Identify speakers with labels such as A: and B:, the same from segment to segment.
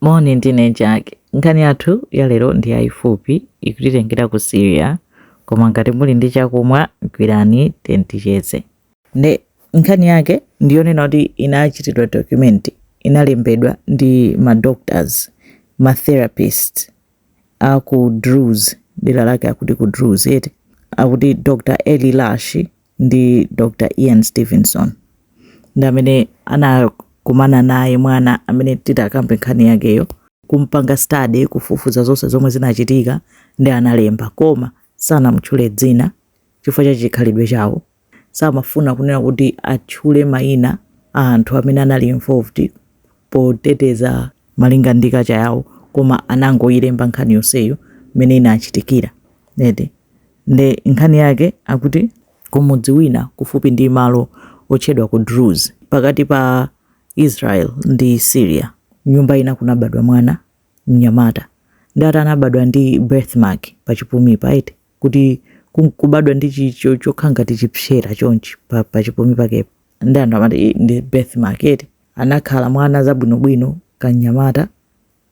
A: Moni ndine Jack. Nkhani yathu yalero ndi yayifupi, ikutitengera ku Syria, koma ngati muli ndi chakumwa gwirani titicheze. Nde nkhani yake ndiyonena kuti inachitidwa document, inalembedwa ndi ma doctors, ma therapist a ku Druze, dera lake akuti ku Druze eti, akuti Dr. Eli Lashi, ndi Dr. Ian Stevenson ndi amene anakumana naye mwana amene titakambe nkhani yakeyo kumpanga study kufufuza zonse zomwe zinachitika nde analemba koma sanamutchule dzina chifukwa cha chikhalidwe chawo samafuna kunena kuti atchule mayina a anthu amene anali involved poteteza malinga ndi culture yawo koma anangoyilemba nkhani yonseyo mmene inachitikira eti Nde nkhani yake akuti. Ku mudzi wina kufupi ndi malo otchedwa ku Druze pakati pa Israel ndi Syria, nyumba ina kunabadwa mwana, mnyamata. Nde ati anabadwa ndi birth mark pachipumipa eti. Kuti kubadwa ndi chi chokhala ngati chipsera chonchi pachipumi pakepa. Nde anthu amati ii ndi birth mark eti. Anakhala mwana zabwinobwino kamnyamata.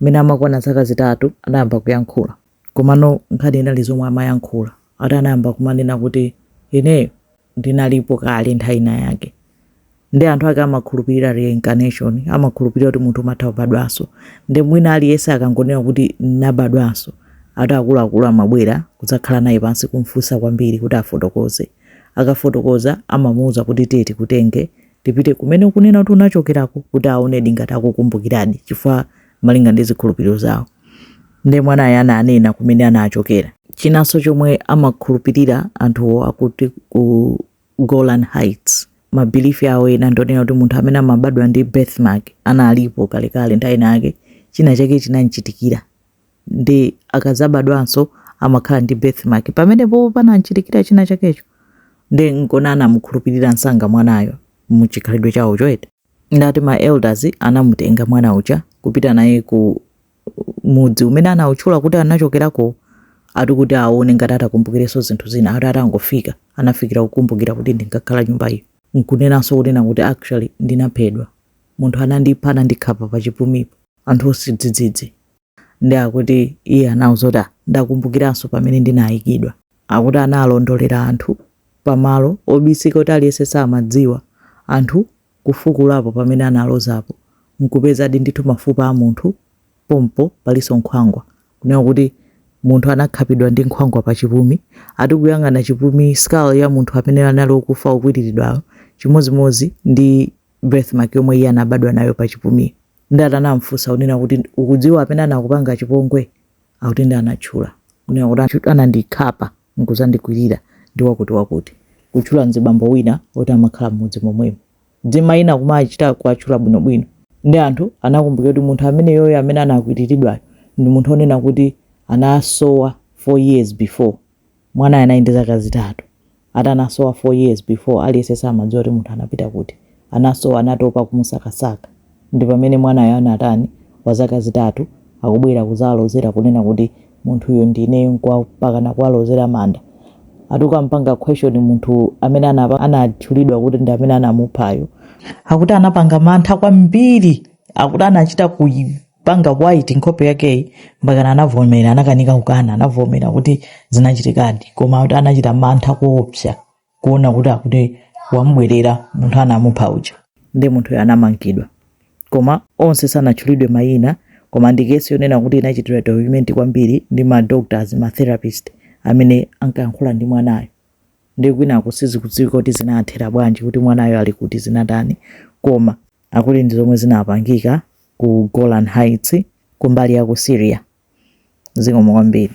A: Mmene amakwana zaka zitatu anayamba kuyankhula. Komano nkhani inali zomwe amayankhula ati anayamba kumanena kuti ineyo ndinalipo kale nthawi ina yake. Nde anthu ake amakhulupirira reincarnation, amakhulupirira kuti munthu umatha kubadwanso. Nde mwina aliyense akangonena kuti ndinabadwanso, ati akuluakulu amabwera kudzakhala naye pansi kum'funsa kwambiri kuti afotokoze. Akafotokoza amamuuza kuti tiye tikutenge tipite kumene ukunena kuti unachokerako kuti aonedi ngati akukumbukiradi chifukwa malinga ndi zikhulupiriro zawo nde mwanayo ananena kumene anachokera chinanso chomwe amakhulupirira anthuwo akuti ku golan heights ma belief awo ena ndonena kuti munthu amene amabadwa ndi birthmark analipo kalekale nthawi inayake china chake chinamchitikira nde akadzabadwanso amakhala ndi birthmark pamenepo panamchitikira china chakecho nde nkona anamukhulupirira msanga mwanayo muchikhalidwe chawo cho eti nde ati ma elders anamutenga mwana uja kupita naye ku mudzi umene anawutchula kuti anachokerako ati kuti aone ngati atakumbukirenso zinthu zina ati atangofika anafikira kukumbukira kuti ndinkakhala nyumba iyo nkunenanso kunena kuti actually ndinaphedwa munthu anandipha anandikhapa pa chipumipa anthu onse dzidzidzi. Nde akuti iye anawauza kuti ah ndakumbukiranso pamene ndinaikidwa. Akuti analondolera anthu pa malo obisika oti aliyense samadziwa, anthu kufukulapo pamene analozapo nkupezadi ndithu mafupa a munthu pompo palinso nkhwangwa. Kunena kuti munthu anakhapidwa ndi nkhwangwa pa chipumi. Ati kuyang'ana chipumi, skull, ya munthu amene anali okufa okwiliridwayo chimodzimodzi ndi. birthmark yomwe iye anabadwa nayo pa chipumiyo nde atamfunsa kunena kuti ukudziwa amene anakupanga chipongwe akuti nde anatchula kunena kuti anandikhapa nkuzandikwirira ndi wakuti wakuti kutchula mzibambo wina woti amakhala mmudzi momwemo dzina lina kumachita kuwatchula bwinobwino nde anthu anakumbukira kuti munthu ameneyoyo amene anakwiriridwayo ndi munthu onena kuti anasowa four years before Mwanayo anali ndi zaka zitatu. Ati anasowa four years before aliyense samadziwa kuti munthu anapita kuti. Anasowa anatopa kumusakasaka. Ndipamene mwanayo anatani wazaka zitatu akubwera kuzalozera kunena kuti munthuyo ndi ineyo mpakana kuwalozera manda. Ati kukampanga question munthu amene anatchulidwa kuti ndi amene anamuphayo. Akuti anapanga mantha kwambiri. Akuti anachita ku. panga white nkhope yakeyi mpakana anavomera anakanika kukana anavomera kuti zinachitikadi koma kuti anachita mantha koopsa kuona kuti akuti wamubwerera munthu anamupha uja nde munthuyo anamangidwa koma onse sanatchulidwe mayina koma ndi kesi yonena kuti inachitidwa document kwambiri ndi ma doctors ma therapist amene ankayankhula ndi mwanayo nde kwinako sizikudziwika kuti zinathera bwanji kuti mwanayo ali kuti zinatani koma akuti ndi zomwe zinapangika ku Golan Heights kumbali ya ku Syria. Zikomo kwambiri.